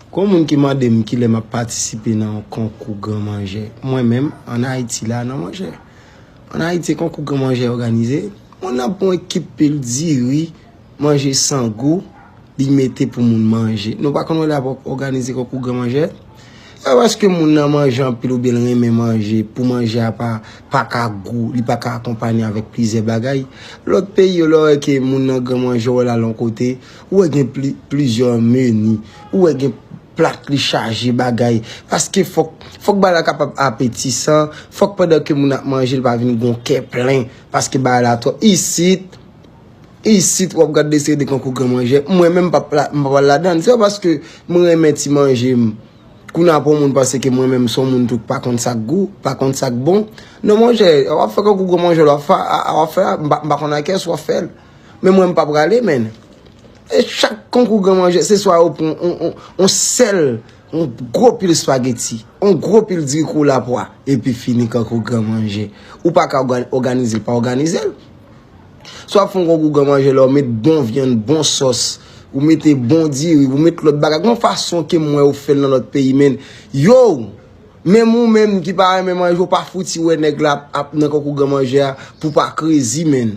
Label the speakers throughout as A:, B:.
A: Gon moun ki mande m kilè map patisipe nan yon konkou gran manjè mwen menm an ayiti la nan manjè an ayiti konkou gran manjè òganize moun nan pran ekip pil diri manje san gou li mete pou moun manje nou pa konn wè lè ap òganize konkou gran manjè se pa paske moun nan manje anpil oubyen l renmen manje pou manje a pa pa ka gou li pa ka akonpanye avèk plizyè bagay lòt peyi yo lè yo wè ke moun nan gran manjè yo wè l al yon kote. Ou wè gen plizyè meni. Ou wè gen plat li chaje bagay. Paske fòk, fòk bagay la kapab apetisan. Fòk pandan ke moun ap manje li pa vin gen yon kè plen. Paske bagay la twòp. Isit, isit wap gad de seri de konkou gran manjè. Mwen menm m pa pral ladann. Se pa paske mwen renmen ti manje m. Kou nan pou moun panse ke mwen menm son moun tou k pa konn sak gou, pa konn sak bon. Non monchè, wap fè konkou gran manjè wap fè, wap fè, m pa konn a kè sou wap fè l. Men mwen m pa prale menn. E chak konkou gran manje, se swa yo pran yon sèl, yon gwo pil spageti, yon gwo pil diri kou lapwa, epi fini konkou gran manje. Ou pa ka oganize l pa oganize l. Swa fon konkou gran manje la, ou met bon vyann, bon sòs, ou mete bon diri, ou mete lòt bagay. Gon fason ke mwen ou fè l nan lòt peyi menn. Yo, menm ou menm ki pa renmen manje, ou pa fouti wè nèg la ap nan konkou gran manje a pou pa krezi menn.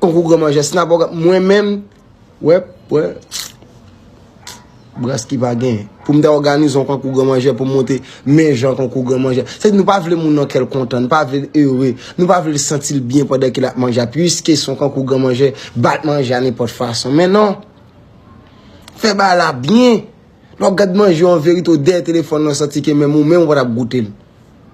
A: Konkou gran manje snap ok mwen menm wè wè bras ki pa gen pou m ta òganize yon konkou gran manje pou m monte men jan konkou gran manje se nou pa vle moun nan kèl kontan nou pa vle l ere nou pa vle l santi l byen pandan ke l ap manje puiske son konkou gran manje bat manje a nenpòt fason men non fè bagay la byen lè w gad manje an verite ou dèyè telefòn nan santi ke menm ou menm ou pa t ap goute l.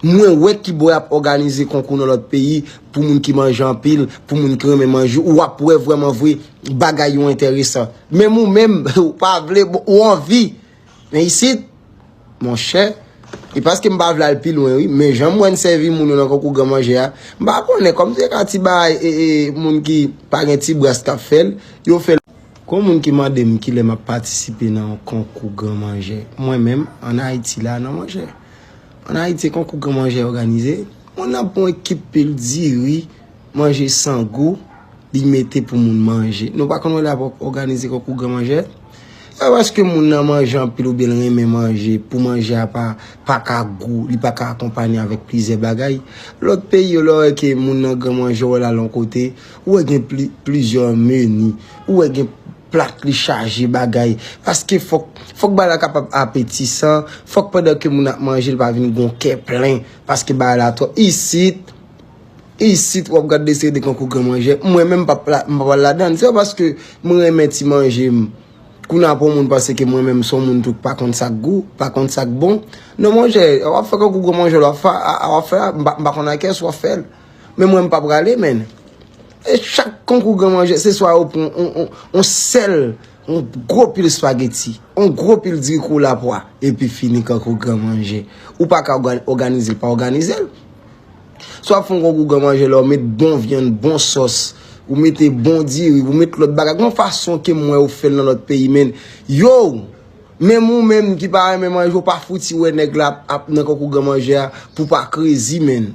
A: Mwen wè kibo yap òganize konkou nan lòt peyi pou moun ki manje anpil, pou moun ki renmen manje, ou ap wè vrèman vre bagay yo enteresan. Menm ou menm, ou pa vle, ou anvi. Men isit, monchè, e paske m pa vle al pi lwen wi, men janm wè n sèvi moun yo nan konkou gran manje a, m pa konnen, kòm se ka ti bagay e e moun ki pa gen ti bras kap fè l, yo fè l. Gon moun ki mande m kilè map patisipe nan yon konkou gran manje. Mwen menm, an Ayiti la, non monchè. An Ayiti se konkou gran manjè òganize, moun nan pran yon ekip pil diri, manje san gou, li mete pou moun manje. Nou pa konn wè lè ap òganize konkou gran manjè? Se pa paske moun nan manje anpil oubyen l renmen manje pou manje a pa ka gou, li pa ka akonpanye avèk plizyè bagay. Lòt peyi yo lè w wè ke moun nan gran manjè, ou wè l al yon kote, ou wè gen plizyè meni, ou wè gen. plat li chaje bagay paske fòk fòk bagay la kapab apetisan fòk pandan ke moun ap manje li pa vin gon kè plen paske bagay la twòp isit isit wap gad de seri de konkou gran manjè mwen menm pap la m pap al ladann se pa paske m renmen ti manje m kounye a pou moun panse ke mwen menm son moun tou k pa konn sak gou pa konn sak bon non monchè wap fè konkou gran manjè wap fè a wap fè a m pa konn a kiyès wap fè l. Men mwen mpa prale menn. E chak konkou gran manje se swa ou pran on sel, on gro pil spageti, on gro pil diri kou la pwa, epi fini konkou gran manje. Ou pa ka oganize, pa oganize. Swa fon konkou gran manje la, ou met bon vyan, bon sos, ou mete bon diri, ou mete lot bagay. Gon fason ke mwen ou fel nan lot peyi menn. Yo, menm ou menm ki pa renmen manje, ou pa fouti we neg la ap nan konkou gran manje a pou pa krezi menn.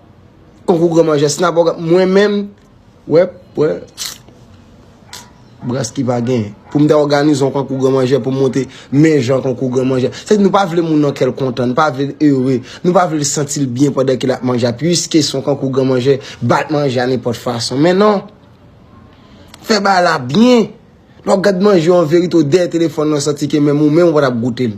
A: Konkou gran manjè snap ok mwen menm wè wè bras ki pa gen pou m ta òganize yon konkou gran manjè pou m monte men jan konkou gran manjè se nou pa vle moun nan kèl kontan nou pa vle l ere nou pa vle l santi l byen pandan ke l ap manje a piske se yon konkou gran manjè bat manje a nenpòt fason men non fè bagay la byen lè w gad manje an verite ou dèyè telefòn nan santi ke menm ou menm ou pa t ap goute l.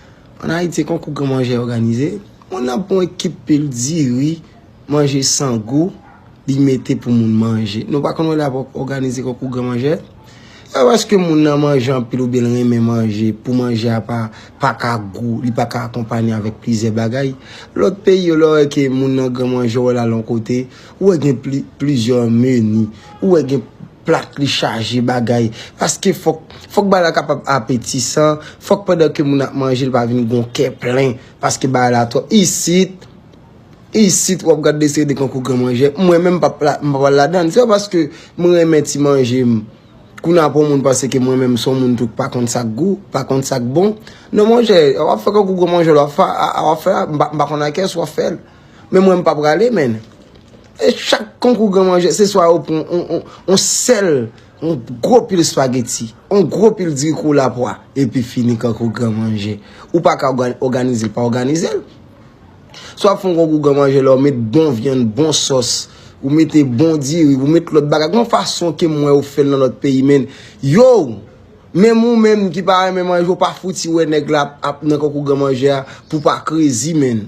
A: An Ayiti, konkou gran manjè òganize. Moun nan pran yon ekip pil diri, manje san gou, li mete pou moun manje. Nou pa konn wè lè y ap òganize konkou gran manjè? Se pa paske moun nan manje anpil oubyen l renmen manje pou manje a pa ka gou, li pa ka akonpanye avèk plizyè bagay. Lòt peyi yo, lè w wè ke moun nan gran manjè, w wè l al yon kote, ou wè gen plizyè meni, ou wè gen. plat li chaje bagay paske fòk fòk bagay la kapab apetisan fòk pandan ke moun ap manje li pa vin gon kè plen paske bagay la twòp isit isit wap gad de seri de konkou gran manjè mwen menm pap la m pap al ladann se pa paske m renmen ti manje m kou nan pou moun panse ke mwen menm son moun tou k pa konn sak gou pa konn sak bon non monchè wap fè konkou gran manjè wap fè a wap fè a m pa konn a kès wap fè l. Men mwen m pa prale menn. E chak konkou gran manje, se swa ou pran on sèl, on gwo pil spageti, on gwo pil diri kou lapwa, epi fini konkou gran manje. Ou pa ka oganize l, pa oganize l. Swa fon konkou gran manje la, ou met bon vyann, bon sòs, ou met bon diri, ou met lòt bagay. Gon fason ke mwen ou fèl nan lòt peyi menn. Yow! Men mou menm ki pa renmen manje, ou pa fouti wè nèg la ap nan konkou gran manje a pou pa krezi menn.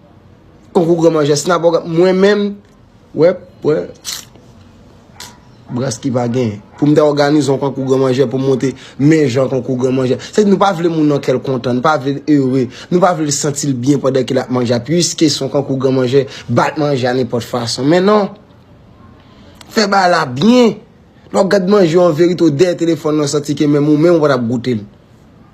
A: Konkou gran manjè snap ok mwen menm wè pwen bras ki pa gen pou m ta òganizon konkou gran manjè pou m monte men jan konkou gran manjè se nou pa vle moun nan kèl kontan nou pa vle l ere nou pa vle l santi l byen pandan ke l ap manje pwiske son konkou gran manjè bat manje a nenpòt fason men non fè ba la byen lò gad manje an verite ou dèyè telefòn nan santi ke menm ou menm ou pa t ap goute l.